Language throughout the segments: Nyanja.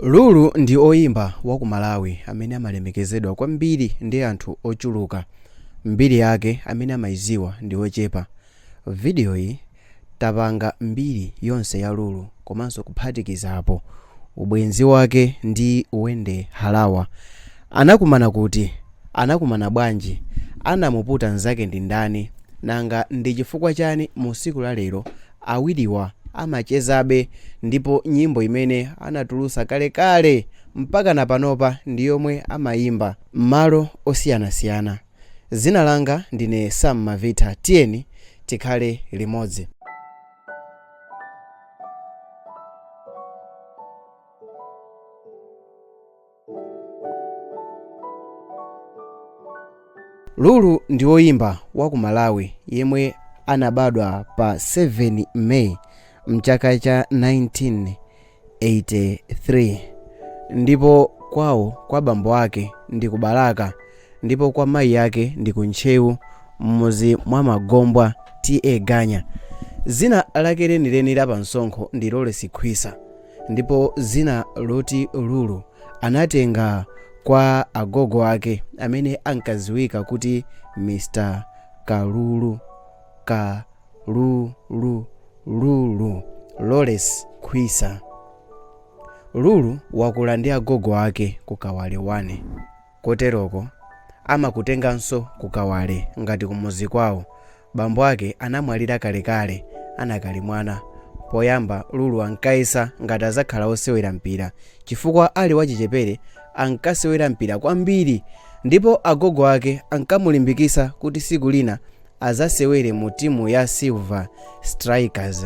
Lulu ndi oyimba wa ku Malawi amene amalemekezedwa kwambiri ndi anthu ochuluka. Mbiri yake amene amayiziwa ndi ochepa. Video yi tapanga mbiri yonse ya Lulu komanso kuphatikizapo, ubwenzi wake ndi Wendy Harawa. Anakumana kuti? Anakumana bwanji? Anamuputa nzake ndi ndani? Nanga ndi chifukwa chani musiku la lero Awiriwa amachezabe ndipo nyimbo imene anatulutsa kalekale mpakana panopa ndi yomwe amayimba. M'malo osiyanasiyana. Dzina langa ndine Sam Mavita tiyeni tikhale limodzi. lulu ndi woyimba wa ku malawi yemwe anabadwa pa 7 may mchaka cha 1983 ndipo kwawo kwa bambo ake ndi ku balaka ndipo kwa mayi ake ndi ku ntcheu m'muzi mwa magombwa ta ganya zina lake lenileni la pamsonkho ndi lawrence khwisa ndipo dzina loti Lulu anatenga kwa agogo ake amene ankadziwika kuti Mr Kalulu Kalulu Lulu Lawrence Khwisa. Lulu wakula ndi agogo ake ku Kawale 1. Koteroko amakutenganso ku Kawale ngati kumudzi kwawo. Bambo ake anamwalira kalekale anakali mwana. Poyamba Lulu ankayesa ngati adzakhala wosewera mpira chifukwa ali wachichepere ankasewera mpira kwambiri ndipo agogo ake ankamulimbikitsa kuti tsiku lina adzasewere mu timu ya Silver Strikers.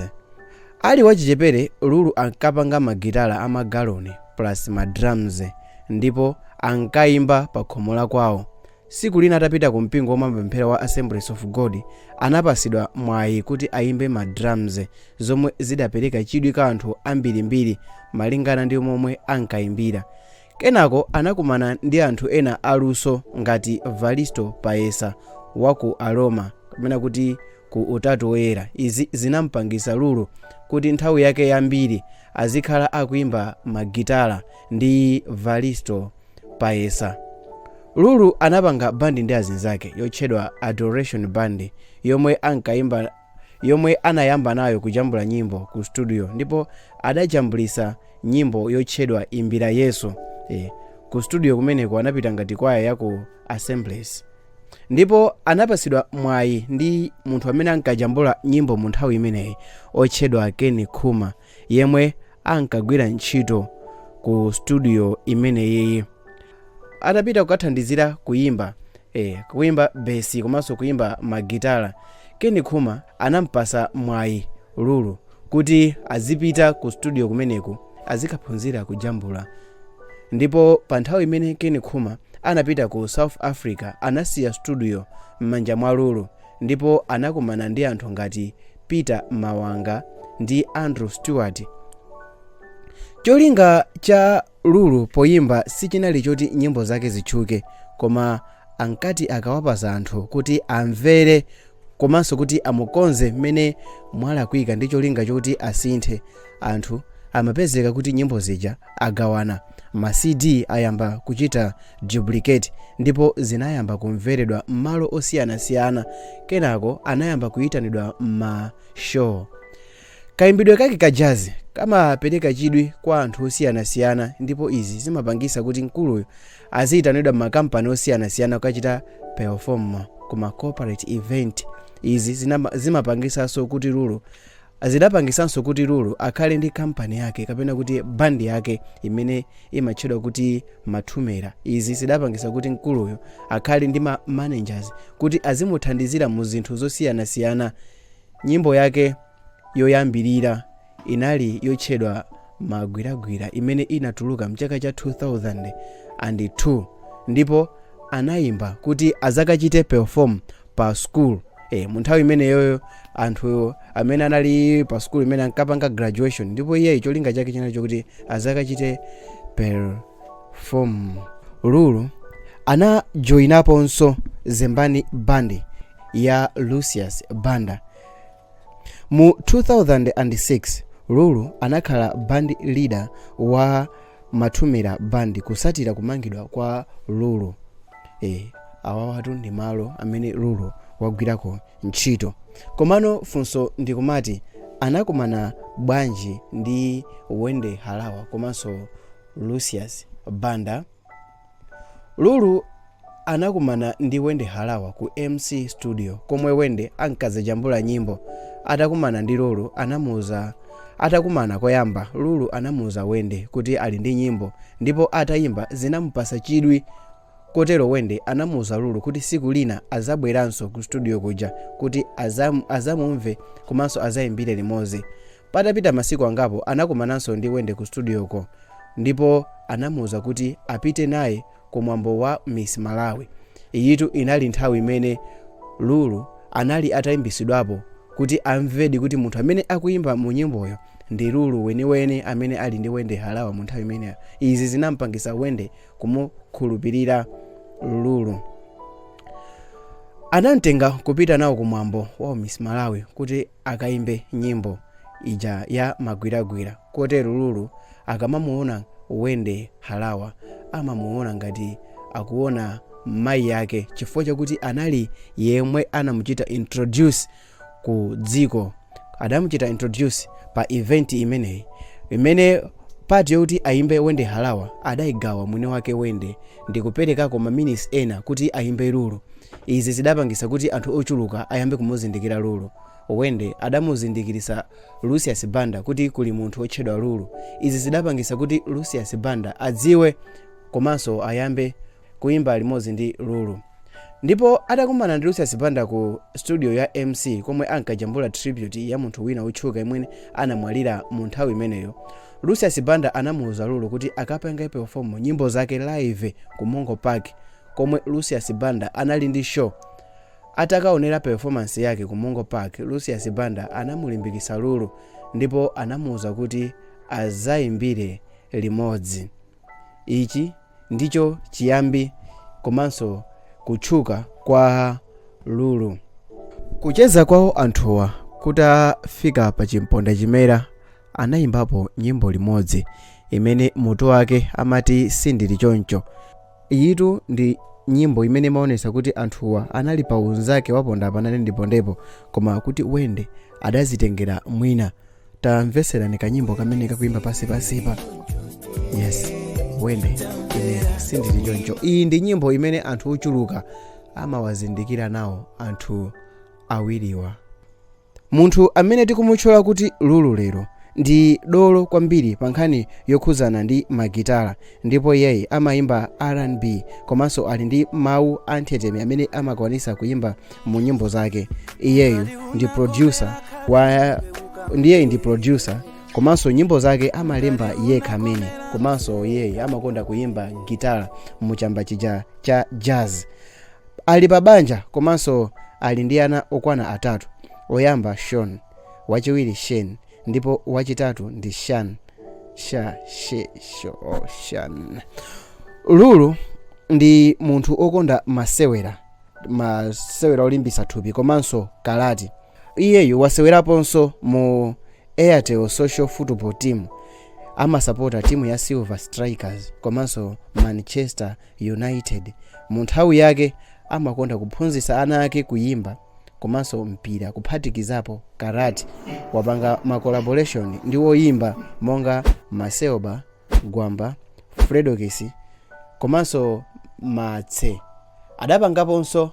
Ali wachichepere, Lulu ankapanga magitala a magaloni plus ma drums ndipo ankaimba pakhomo la kwawo. Siku lina atapita ku mpingo womwe amapemphera wa Assemblies of God, anapasidwa mwayi kuti ayimbe ma drums zomwe zidapereka chidwi kwa anthu ambirimbiri malingana ndi momwe ankayimbira. Kenako anakumana ndi anthu ena aluso ngati Valisto Paesa wa ku Aroma, kapena kuti ku Utatu Woyera. Izi zinam'pangitsa Lulu kuti nthawi yake yambiri azikhala akuimba magitala ndi Valisto Paesa. Lulu anapanga bandi ndi azinzake yotchedwa Adoration Band yomwe ankaimba yomwe anayamba nayo kujambula nyimbo ku studio ndipo adajambulitsa nyimbo yotchedwa imbira yesu, ku studio kumeneko anapita ngati kwaya ya ku assemblies ndipo anapatsidwa mwayi ndi munthu amene ankajambula nyimbo mu nthawi imeneyi otchedwa keni khuma yemwe ankagwira ntchito ku studio imeneyiyi atapita kukathandizira kuyimba eh, kuyimba besi komanso kuyimba magitala Ken Khuma anampasa mwayi lulu kuti azipita ku studio kumeneku azikaphunzira kujambula ndipo pa nthawi imene Ken Khuma anapita ku south africa anasiya studio m'manja mwa lulu ndipo anakumana ndi anthu ngati Peter Mawanga ndi Andrew Stewart. Cholinga cha Lulu poyimba sichinali choti nyimbo zake zitchuke, koma ankati akawapasa anthu kuti amvere komanso kuti amukonze mmene mwalakwika ndi cholinga choti asinthe, anthu amapezeka kuti nyimbo zija agawana, ma CD ayamba kuchita duplicate ndipo zinayamba kumveredwa m'malo osiyanasiyana, kenako anayamba kuyitanidwa m'ma show. Kayimbidwe kake ka jazz kamapereka chidwi kwa anthu osiyanasiyana ndipo izi zimapangisa kuti mkuluyu aziyitanidwa m'ma kampani osiyanasiyana kukachita perform ku ma corporate event. Izi zimapangisanso kuti Lulu Zidapangisanso kuti Lulu akhale ndi kampani yake kapena kuti bandi yake imene imatchedwa kuti Mathumela. Izi zidapangisa kuti mkuluyu akhale ndi ma managers kuti azimuthandizira mu zinthu zosiyanasiyana. Nyimbo yake yoyambirira inali yotchedwa Magwiragwira imene inatuluka mchaka cha 2002 ndipo anayimba kuti azakachite perform pa school eh mu nthawi imeneyoyo anthu amene anali pa school imene ankapanga graduation ndipo iyeyo cholinga chake chinali chokuti azakachite perform lulu anajoyinaponso zembani band ya lucius banda Mu 2006, Lulu anakhala band leader wa Mathumela Band kusatira kumangidwa kwa Lulu. Eh, awawatu ndi malo amene Lulu wagwirako ntchito. Komano funso ndikumati anakumana bwanji ndi Wendy Harawa komanso Lucius Banda? Lulu anakumana ndi Wendy Harawa ku Mc Studio komwe Wendy ankazajambula nyimbo. Atakumana ndi Lulu anamuuza Atakumana koyamba, Lulu anamuuza Wendy kuti ali ndi nyimbo ndipo atayimba zinamupasa chidwi kotero Wendy anamuuza Lulu kuti siku lina azabweranso ku studio kuja kuti azam, azamumve komanso azayimbire limodzi. Patapita masiku angapo anakumananso ndi Wendy ku studio-ko ndipo anamuuza kuti apite naye ku mwambo wa Miss Malawi. Iyitu inali nthawi imene Lulu anali ataimbisidwapo kuti amvedi kuti munthu amene akuimba mu nyimboyo ndi Lulu weniweni amene ali ndi Wendy Harawa mu nthawi imeneyo. Izi zinampangisa Wendy kumukhulupirira Lulu. Anamtenga kupita nawo ku mwambo wa Miss Malawi kuti akaimbe nyimbo ija ya magwiragwira kotero Lulu akamamuona Wendy Harawa amamuona ngati akuona mayi yake chifukwa chakuti anali yemwe anamuchita introduce ku dziko adamuchita introduce pa event imeneyi imene part yokuti aimbe Wendy Harawa adaigawa mwini wake Wendy ndikuperekako maminisi ena kuti ayimbe Lulu. Izi zidapangitsa kuti anthu ochuluka ayambe kumuzindikira Lulu. Wendy adamuzindikilitsa Lucius Banda kuti kuli munthu otchedwa Lulu. Izi zidapangitsa kuti Lucius Banda adziwe komanso ayambe kuyimba limodzi ndi Lulu. Ndipo atakumana ndi Lucius Banda ku studio ya MC komwe ankajambula tribute ya munthu wina otchuka yemwe anamwalira mu nthawi imeneyo, Lucius Banda anamuuza Lulu kuti akapange perform nyimbo zake live ku Mongo Park komwe Lucius Banda anali ndi show. Atakaonera performance yake ku Mongo Park, Lucius Banda anamulimbikitsa Lulu ndipo anamuuza kuti azaimbire limodzi. Ichi ndicho chiyambi komanso kutchuka kwa Lulu. Kucheza kwawo anthuwa kutafika pa chimpondachimera, anayimbapo nyimbo limodzi imene mutu wake amati sindili choncho iyitu ndi nyimbo imene imaonesa kuti anthuwa anali pa unzake waponda apa nane ndipondepo koma kuti Wendy adazitengera mwina tamveserani kanyimbo kamene kakuyimba pansi pansipa yes Wendy ine sindili choncho iyi ndi nyimbo imene anthu ochuluka amawazindikira nawo anthu awiriwa Munthu amene tikumutchula kuti Lulu lero ndi dolo kwambiri pa nkhani yokhudzana ndi magitala ndipo iyeyi amaimba RnB komanso ali ndi mawu anthetemya amene amakwanitsa kuimba mu nyimbo zake. Iye iyeyu ndi producer komanso nyimbo zake amalemba yekha amene komanso iyeyi amakonda kuimba gitala mu chamba chija cha jazz. Ali pa banja komanso ali ndi ana okwana atatu. Oyamba Shawn, wachiwiri Shane ndipo wachitatu ndi Shan. Shan. Lulu ndi munthu okonda masewera, masewera olimbitsa thupi komanso karati. Iyeyu waseweraponso mu Airtel Social Football Team. Amasapota timu ya Silver Strikers komanso Manchester United. Mu nthawi yake amakonda kuphunzitsa ana ake kuyimba komanso mpira kuphatikizapo karati. Wapanga ma collaboration ndi oyimba monga Macelba, Gwamba, Fredokiss komanso Martse. Adapangaponso.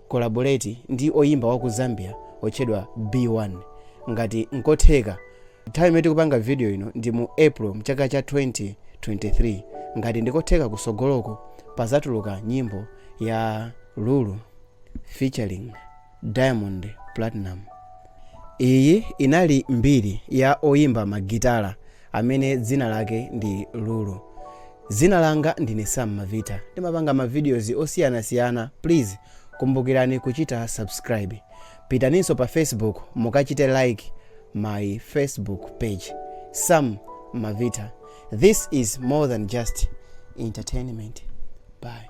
collaborate ndi oyimba waku Zambia otchedwa B1 ngati nkotheka nthawi imene tikupanga video ino ndi mu April mchaka cha 2023 ngati ndikotheka kusogoloku pazatuluka nyimbo ya Lulu featuring Diamond Platinum iyi inali mbiri ya oyimba magitala amene dzina lake ndi Lulu. Dzina langa ndine Sam Mavita. Ndimapanga ma videos osiyanasiyana. Please kumbukirani kuchita subscribe. Pitaninso pa Facebook mukachite like my Facebook page. Sam Mavita. This is more than just entertainment. Bye.